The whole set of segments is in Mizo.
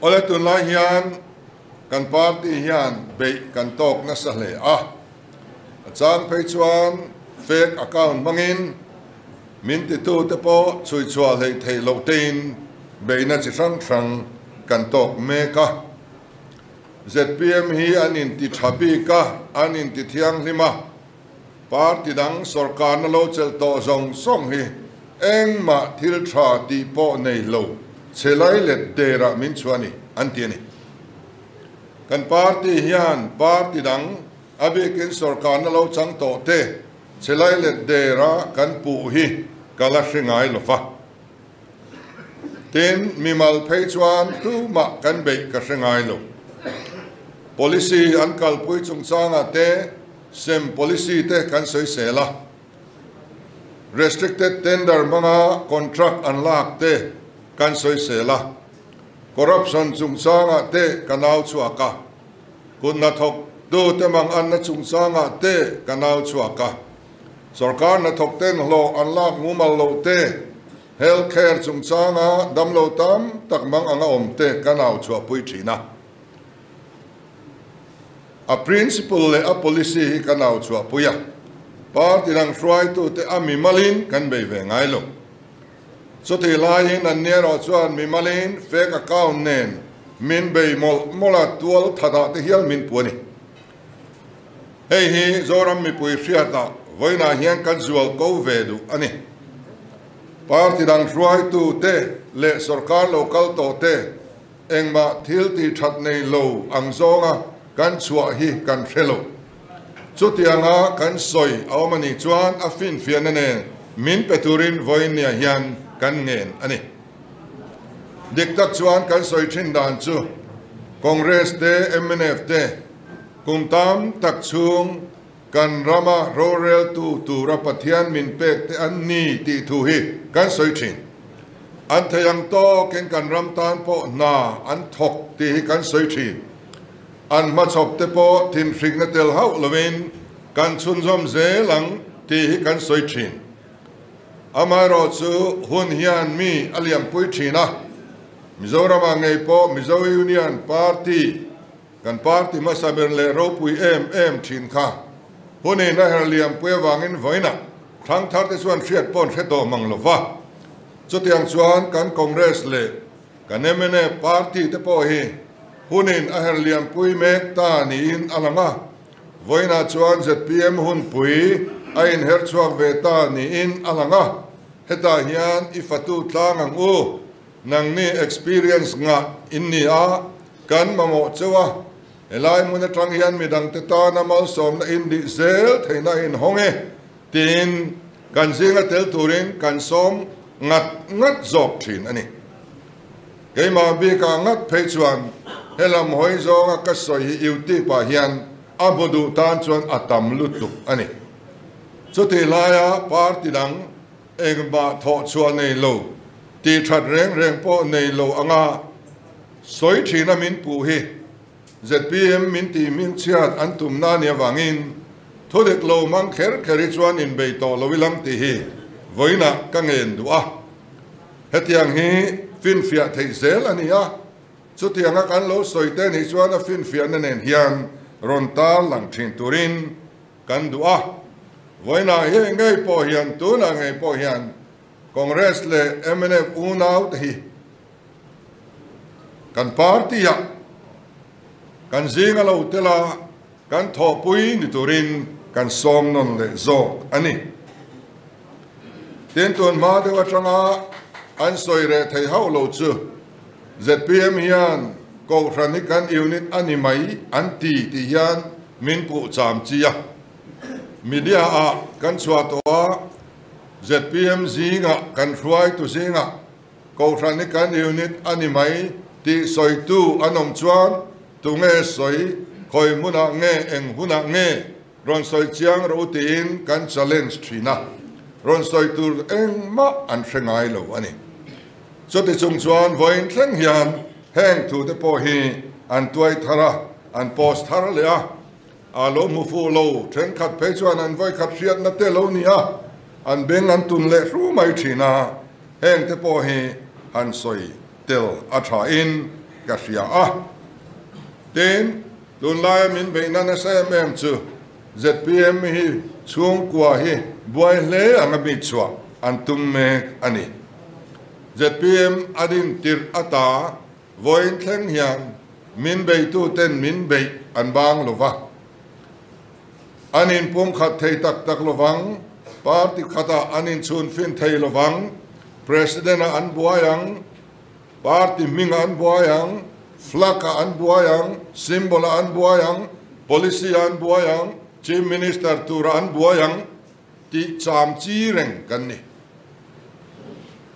Awle tunlai hian kan party hian beih kan tawk nasa hle a, a chang phei chuan fake account hmangin min titute pawh chhui chhuah hleih theih loh teiin beihna chi hrang hrang kan tawk mek a. Zpm hi an inti tha bik a, an inti thianghlim a. Party dang sawrkarna lo chelh tawh zawng zawng hi engmah thil tha tih pawh nei lo che lai let derah min chhuah a ni, an ti a ni. Kan party hian party dang a bikin sawrkarna lo chang tawh te che lai let derah kan puh hi ka la hre ngai lo va. Tin, mimal phei chuan tumah kan beih ka hre ngai lo. Policy an kalpui chungchangah te, Sem policy te kan soisel a, restricted tender hmanga contract an lak te kan soisel a, corruption chungchangah te ka nau chhuak a, kut hnathawk tu te mang anna chungchangah te ka nau chhuak a, sorkar hnathawk ten hlawh an lak ngu mal lo te, health care chungchanga damlo tam tak mang anga awm te ka nau chhuahpui thin a. A principle leh a policy hi ka nau chhuahpui a, party rang hruaitute a mimalin kan bei ve ngai lo. Chuti laiin an nia erawh chuan mimalin fake account nen min bei mawlh mawlh a, tual tha dah te hial min pu a ni. Hei hi Zoram mipui hriata vawiinah hian kan zual ko ve duh a ni. Party rang hruaitute leh sorkar lo kal tawhte, Engmah thil tih that nei lo ang zawnga kan chhuah hi kan hre lo. Chutianga kan sawi a awm a nih chuan a finfiahna nen min pe turin vawinia hian kan ngen a ni. Dik tak chuan kan sawi thin dan chu Congress te mnf te kum tam tak chhung Kan rama roreltu tura Pathian min pek te an ni tih thu hi kan sawi thin. An thei ang tawkin kan ram tan pawh hna an thawk tih hi kan sawi thin. An hmachhawp te pawh thinhrikna tel hauh loin kan chhunzawm zel ang tih hi kan sawi thin. Amaherawh chu hun hian mi a liampui thin a, Mizoramah ngei pawh Mizo Union Party, Kan party hmasa ber leh ropui em em thin kha hunin a herh liampui avangin vawiina thangthar te chuan hriat pawh an hre tawh hmang lo va. Chutiang chuan kan Congress leh kan mna party te pawh hi hunin a herh liampui mek ta niin a lang a, vawiina chuan zpm hunpui a inherh chhuak ve ta niin a lang a, hetah hian i fatu tlang ang u. Nangni experience ngah in ni a, kan mamawh cheu a, helai hmun atang hian midangte tana malsawmna indih zel theihna a inhawng e tiin kan zinga tel turin kan sawm ngat ngat zawk thin a ni. Keimah bik a ngak phei chuan he lam hawi zawnga ka sawi hi YouTube ah hian a bu duh tan chuan a tam lutuk a ni. Chutih laia party dang Engmah thawh chhuah nei lo, tih that reng reng pawh nei lo ang a, sawi thin a min puh hi zpm min tih min chhiat an tumna a nih avangin thudik lo mang kher kher hi chuan inbei tawh lo ilang tih hi vawiinah ka ngen duh a, hetiang hi finfiah theih zel a ni a, chutianga kan lo sawite nih chuan a finfiahna nen hian rawn tarlang thin turin. Kan duh a, vawiina hi ngei pawh hian, tunah ngei pawh hian Congress leh mnf unaute hi kan party-ah kan zing a lo tel a, kan thawhpui ni turin kan sawm nawn leh zawk a ni. Tin tun hma deuh atanga an sawi reh thei hauh lo chu. Zpm hian Kohhran hi kan unit a ni mai an ti tih hian min puh cham chi a. Media ah kan chhuah tawh a, zpm zingah kan hruai tu zingah Kohhran hi kan unit a ni mai tih sawi tu an awm chuan tunge sawi, khawi hmunah nge, eng hunah nge? Rawn sawi chiang rawh u tiin kan challenge thin a, rawn sawi tur engmah an hre ngai lo a ni. Chuti chung chuan vawiin thleng hian heng thu te pawh hi an tuai thar a, an post thar leh a, aa lo hmu fuh lo, thenkhat phei chuan an vawikhat hriatna te lo nia an beng an tun leh hru mai thin a, heng te pawh hi han sawi tel a thain ka hria a, tiin Tunlaia min beih na nasa em em chu zpm hi chhungkua hi buai hle ang a mi chhuah an tum mek a ni. Zpm a din tirh a ta vawiin thleng hian min beitu ten min beih an bang lo va, an in pum khat thei tak tak lo vang, party khat ah an in chhun fin thei lo vang, president ah an buai ang, Party hmingah an buai ang, flag ah an buai ang, symbol ah an buai ang, policy ah an buai ang, Chief Minister turah an buai ang tih cham chi reng kan ni.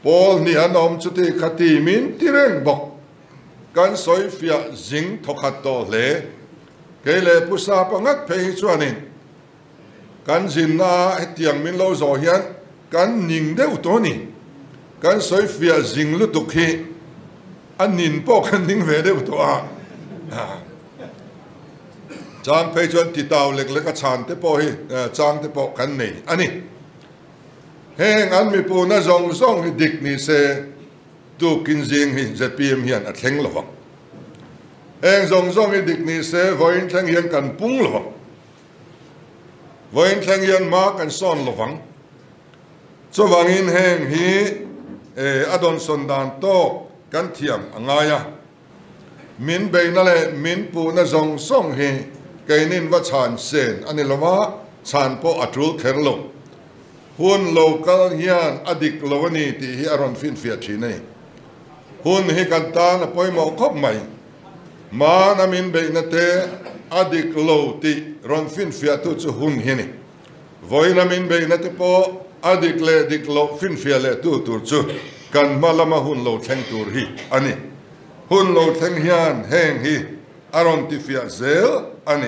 Pawl hnih an awm chuti kha ti min ti reng bawk. Kan sawifiah zing thawkhat tawh hle. Kei leh pu sapa ngat phei hi chuanin. Kan zinna ah hetiang min lo zawh hian kan ning deuh tawh a ni. Kan sawifiah zing lutuk hi a nin pawh kan ning ve deuh tawh a. Chang phei chuan titau lek lek a chhan te pawh hi chang te pawh kan nei a ni. Heng an mipuna zawng zawng hi dik ni se tu kin zing hi zpm hian a thleng lovang. Heng zawng zawng hi dik ni se vawiin thleng hian kan pung lovang. Vawinthleng hian mah kan sawn lo vang. Chuvangin heng hi a dawnsawn dan tawk kan thiam a ngai a. Min beihna leh min puhna zawng zawng hi keinin va chhan sen a ni lo a, chhan pawh a tul kher lo. Hun lo kal hian a dik lo a ni tih hi a rawn finfiah thin a ni. Hun hi kan tan a pawimawh khawp mai. Hman a min beihna te a dik lo tih rawn finfiahtu chu hun hi a ni. Vawiin a min beihna te pawh a dik leh dik loh finfiah lehtu tur chu kan hma lama hun lo thleng tur hi a ni. Hun lo thleng hian heng hi a rawn tifiah zel a ni.